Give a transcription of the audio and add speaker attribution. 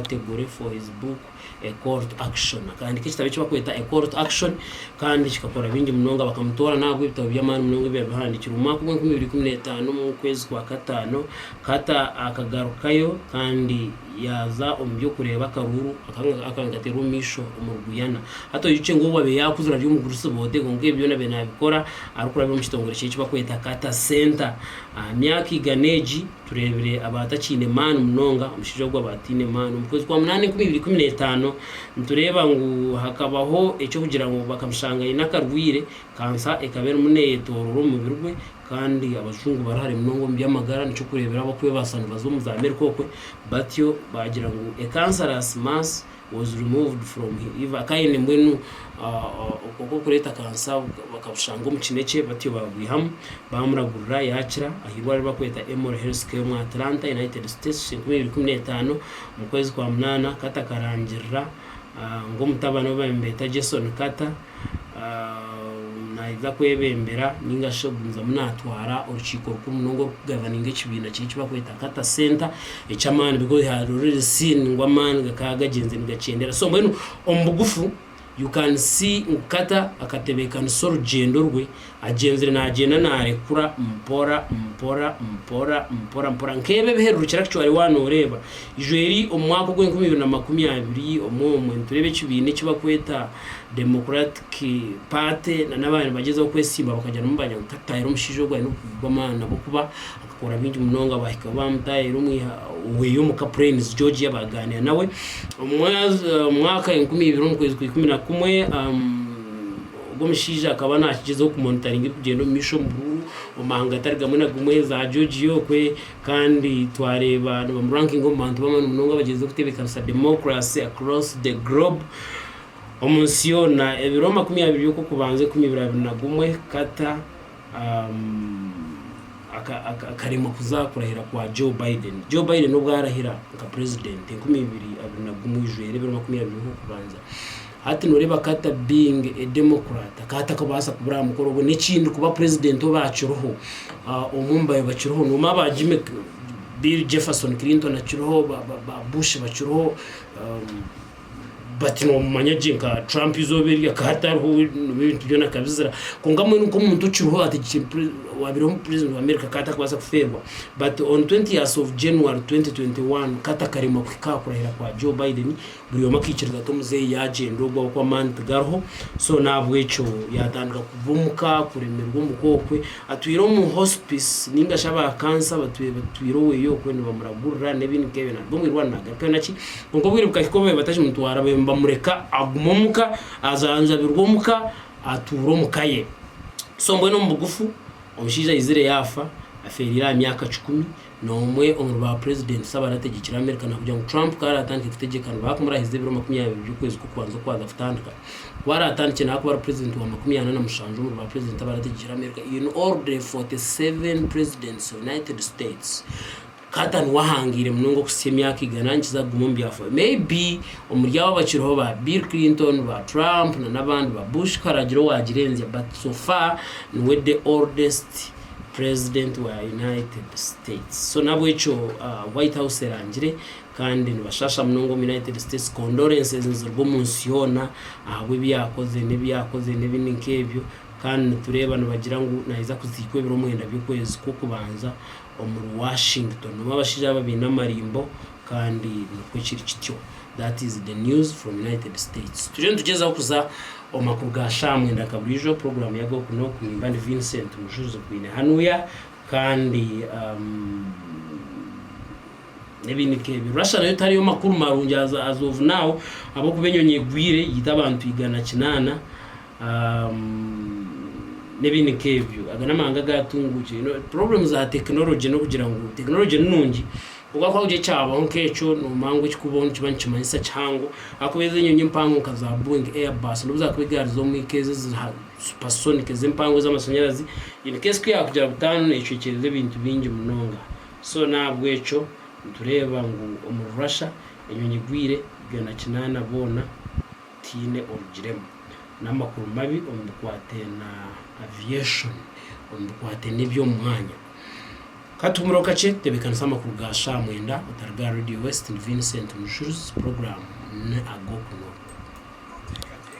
Speaker 1: ategure for his book a court action akahandika ekitabo ekibakweta a court action kandi kikakora bingi munonga bakamutora nahabwa ebitabo by'amaani munonga ebiba bihandikirwe omwaka gwa enkumi ibiri ikumi n'etaano omu kwezi kwa kataano kata akagarukayo kandi yaza omu by'okureeba akaruuru akankatera omu maisho omu ruguyana hata oyukye ngu owabe yakuzira ari omugurusi boode kwonka ebi byona be nabikora arikurabira omu kitongore kyekibakweta kata center aha myaka igana egi Tureebire abatakiine maani munonga, omushaija ogu aba ataine maani. Omu kwezi kwa munaana enkumi ibiri ikumi n'etaano, nitureeba ngu hakabaho eky'okugira ngu bakamushanga aine akarwaire, kansa ekaba erimu neyetoroora omu mubiri gwe kandi abajungu bari hare munonga omu by'amagara nikyo kureeberaho abakwebaasa nibaza omu z'Amerika okwe batyo baagira ngu a cancerous mass was removed from him iv akaba aine mbwenu okokureeta kansa bakabushanga omu kinekye batyo babwihamu bamuragurira yakira ahirwaro bakweta Emory Health Care omu Atlanta United States enkumi ibiri kumi n'etaano omu kwezi kwa munana Carter akarangirira ngu omutabani we bambeeta Jason Carter naija kwebembera ninga shi ogumizamu natwara orukiiko rukuru munonga orukugavaninga ekibiina kye ekibakweta kata senta ekyamaani because he had already seen ngu amaani gakaba gagyenze nigakyendera so mbwenu omu bugufu you can see ngu kata akatebekanisa orugyendo rwe Agyenzire naagyenda naarekura mpora mpora mpora mpora mpora nk'ebi ebiherurukira kicwa ori waaba nooreeba Ijweri omu mwaka ogw'enkumi ibiri na makumi abiri omwomwe nitureeba ekibiina eki barikweta Democratic Party nana abaaba nibagyezaho kwesimba bakagira ngu bagira ngu tataayaho omushaija ogu aine obukugu bw'amaani ahabw'okuba akakora bingi munonga baahika ahu baamutaayaira omwiha oweye omuka Plains Georgia baagaaniira nawe omu mwaka enkumi ibiri omu kwezi kwa ikumi na kumwe Ogwo mushaija akaba naakigyezaho kumonitaringa ebirikugyenda omu maisho omu buruuru, omu mahanga gatari gamwe na gumwe, za Georgia okwe, kandi twareeba nibamurankinga omu bantu b'amaani munonga abagyezeho kutebeekanisa demokurasi across the globe, omu nsi yoona. Ebiro makumi abiri by'okw'okubanza ekumi biraabiri na gumwe, Carter akaremwa kuza kurahira kwa Joe Biden. Joe Biden obu arahira nka purezidenti enkumi ibiri abiri na gumwe ijwera ebiro makumi abiri nk'okubanza hati noreeba kata being a democrat akaba atakubaasa kubura aha mukoro ogwo n'ekindi kuba purezidenti obu akiriho ah, omu mbayo bakiriho nomu aba Jimmy Bill Jefferson Clinton akiriho ba, ba, ba Bush bakiriho um, but nomumanya gye nka trump izooba eri akaba tariho ebintu byona akabizira kwonka mbwenu nk'omuntu okiriho ati wabireho omu president wa america akaba atakubaasa kufeerwa but on 20 years of january 2021 katakaremwa kuhika aha kurahira kwa joe biden buri omwe akaikiriza ati omuzeeyi yagyenda ogu oku amaani tigariho so n'ahabw'ekyo yatandika kuva omuka kuremerwa omuka okwe atwire omu hospice ninga shi aba kansa batwire oweeye okwe nibamuragurira n'ebindi nk'ebyo naruga omu irwaro nagarukayo naki Kwonka obwire bukahika obu baabaire batakimutwara, baabaire nibamureka agume omu ka, ajanjabirwe omu ka, atuure omu ka ye. So mbwenu omu bugufu, omushaija aizire yaafa, afeereire aha myaka kikumi, n'omwe omuri baapurezidenti shi abaarategekire Amerika, naakugira ngu Trump ku araatandike kutegyeka nibaakumurahiza ebiro makumi abiri by'okwezi kw'okubanza oku kwaaza kutandika. Ku araatandikye naakuba ari purezidenti wa makumi ana na mushanju omuri baapurezidenti abaarategekire Amerika in all the 47 presidents of United States. Carter niwe ahangiire munonga okuhitsya emyaka igana nikiza kuguma omu byafaayo. Maybe omuri abo abakiriho ba Bill Clinton, ba Trump na n'abandi, ba Bush haragira owagirenzya but so far niwe the oldest president wa United States. So n'abwekyo White House erangire kandi nibashaasha munonga omu United States. Condolences niziruga omu nsi yoona ahabw'ebi yaakoze n'ebi yaakoze n'ebindi nk'ebyo kandi nitureeba nibagira ngu naija kuziikwa ebiro mwenda by'okwezi kw'okubanza. omuri Washington nobu abashaija aba baine amarimbo kandi nikwo kiri kityo that is the news from United States turiyo nitugyezaho kuza omu makuru ga shaaha mwenda nka buriijo program ya goku noku nimba ndi Vincent Mushuzi okwine hanuya kandi um, ebindi nk'ebyo Russia nayo tariyo makuru marungi as, as of now ahabw'okuba enyonyi egwire yiita abantu igana kinaana n'ebindi nk'ebyo aga n'amahanga agaatunguukire you know problem za technology n'okugira ngu technology ni nungi kwonka ku haagira ekyabaho nk'ekyo noomanya ngu ekikubaho nikiba nikimanyisa kihango ahakuba ezi enyonyi empango nka za Boeing Airbus n'obu zaakuba egari z'omu ka ezi ezi ha supersonic ezi empango ez'amashanyarazi in case ku yaakugira butaano neecwekyerera ebintu bingi munonga so n'ahabw'ekyo nitureeba ngu omuri Russia enyonyi egwire byona kinaana boona. tihaine orugiremu, n'amakuru mabi omu bikwate na aviation, omu bikwate n'eby'omu mwanya. Ka tuhumireho kakye, tebeekanisa amakuru ga shaaha mwenda otariga aha Radio West ni Vincent Mushuruzi, puroguraamu ni Ag'oku n'oku.